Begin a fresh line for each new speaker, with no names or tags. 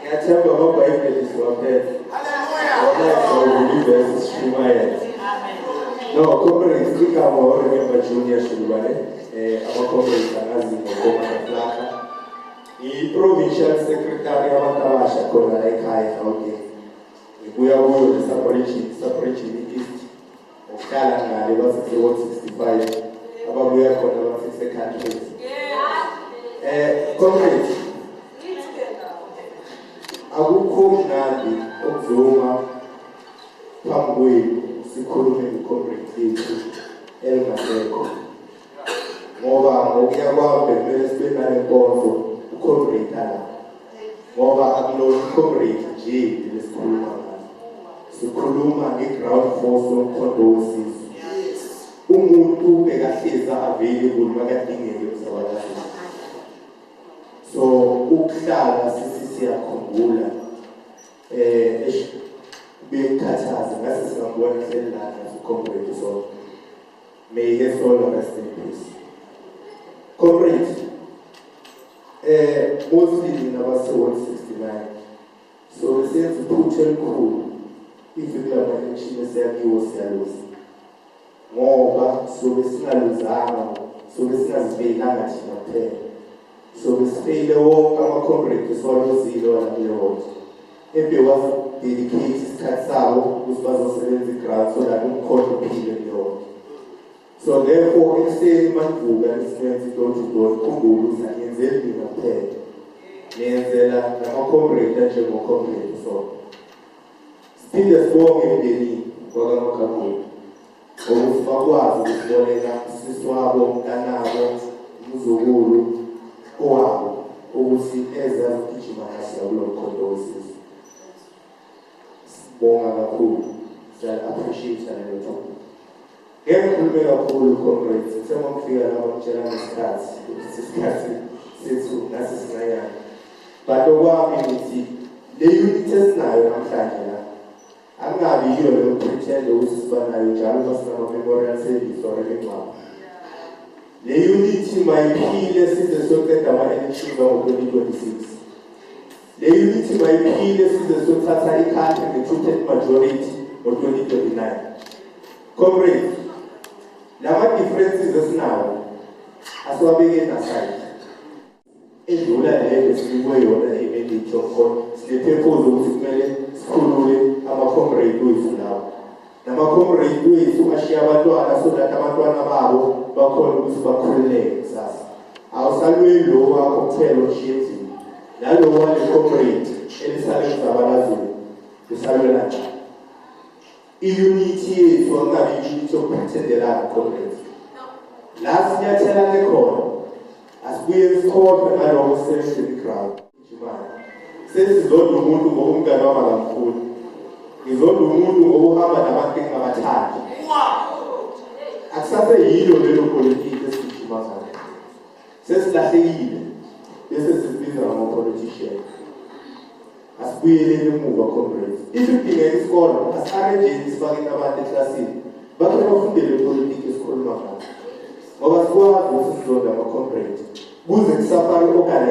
Ngiyathemba ngoba ibheli siwaphela. Hallelujah. Sishumayela. No, comrades, igama oRemember Junior Shulwane, eh abacomrades angazi ngokoma kaplaka. I-provincial secretary abantu abasha khona la ekhaya eGauteng. Ngibuya kuyo le-Saporijini, Saporijini East. Uhlala ngale bafike wo 65 ababuya khona bafise countries. Eh comrades akukho mnandi ukuzuma phambi kwenu sikhulume ngicomrade lethu elingasekho ngoba ngokuya kwami bekumele sibe nale nkonzo ucomrade ala ngoba akulona ucomrade nje lesikhuluma ngaso sikhuluma nge-ground force yomkhondo wesizwe umuntu bekahlezi available makadingeke emsabalazweni so ukuhlala sisi siyakhumbula eh bekhathaza ngase singabona ihlelana sikhombe isonto May her soul rest in peace. Comrades, eh mostly nina base 169. So senze iphutha elikhulu if kulama election esiyakiwo siyaluza. Ngoba sobe singaluzanga, sobe singazibekanga thina kuphela. Sobisile wonke ama-comrade esiwalozile walakule ward ebewasidelikhethi isikhathi sawo ukuthi bazosebenza i-grant so that umkhondo uphile kule ward so therefore ekuseni manivuka nisenza idodudor khumbule ukuthi aniyenzeli mina kuphela niyenzela nama-comrade anjengocomrade so siphinde sibonge emndenini kwakamakhakhulu ukuthi bakwazi ukuboleka usisi wabo mntanabo umzukulu owabo ukuthi eze azogijima kahle kulo mkhondo wesizwe sibonga kakhulu siya-appreciate-a lelo thuba ngeke ngikhulume kakhulu comrades ngithe uma ngifika lapha ngitshela ngesikhathi ukuthi isikhathi sethu nasi sincanyana but okwami ngithi le unit esinayo namhlanje Angabi yiyo leyo pretend ukuthi sibanayo njalo uma sinama-memorial service or imingcwabo. Le unity mayiphile size soqeda ama-elections ango-2026. Le unity mayiphile size sothatha ikhanti nge-two-third majority ngo-2029. Comrades, lama-differences esinawo asiwabekeni aside. edlula lento sinikwe yona i-edit of course sinephephuza ukuthi kumele sikhulule ama-comrade wethu lawo nama-comrade wethu ashiye abantwana so that abantwana babo bakhona ukuthi bakhululeke kusasa awusalweli lo wakho kuthela oshiye endlini nalo wale-comrade elisale kuzabalazweni usalwela njani Iyunithi yethu akukabi iyunithi yokuphathendelana comrades la sinyathelane khona asibuye sikhohlwe ngaloko seshleli ground njimane sesizodwa umuntu ngoba umngane wami akamkhulu ngizodwa umuntu ngoba uhamba nabakinga abathathu akusabe yilo lelo politiki esigijima ngayo sesilahlekile bese sibiza ngama-politician asibuyeleni emuva comrades if idingeka isikole asiarranjeni sifakeni abantu eklasini bakhe bafundele politiki esikhuluma ngayo ngoba sikwazi ukuthi sizonda ama-comrade kuze kusafake okanye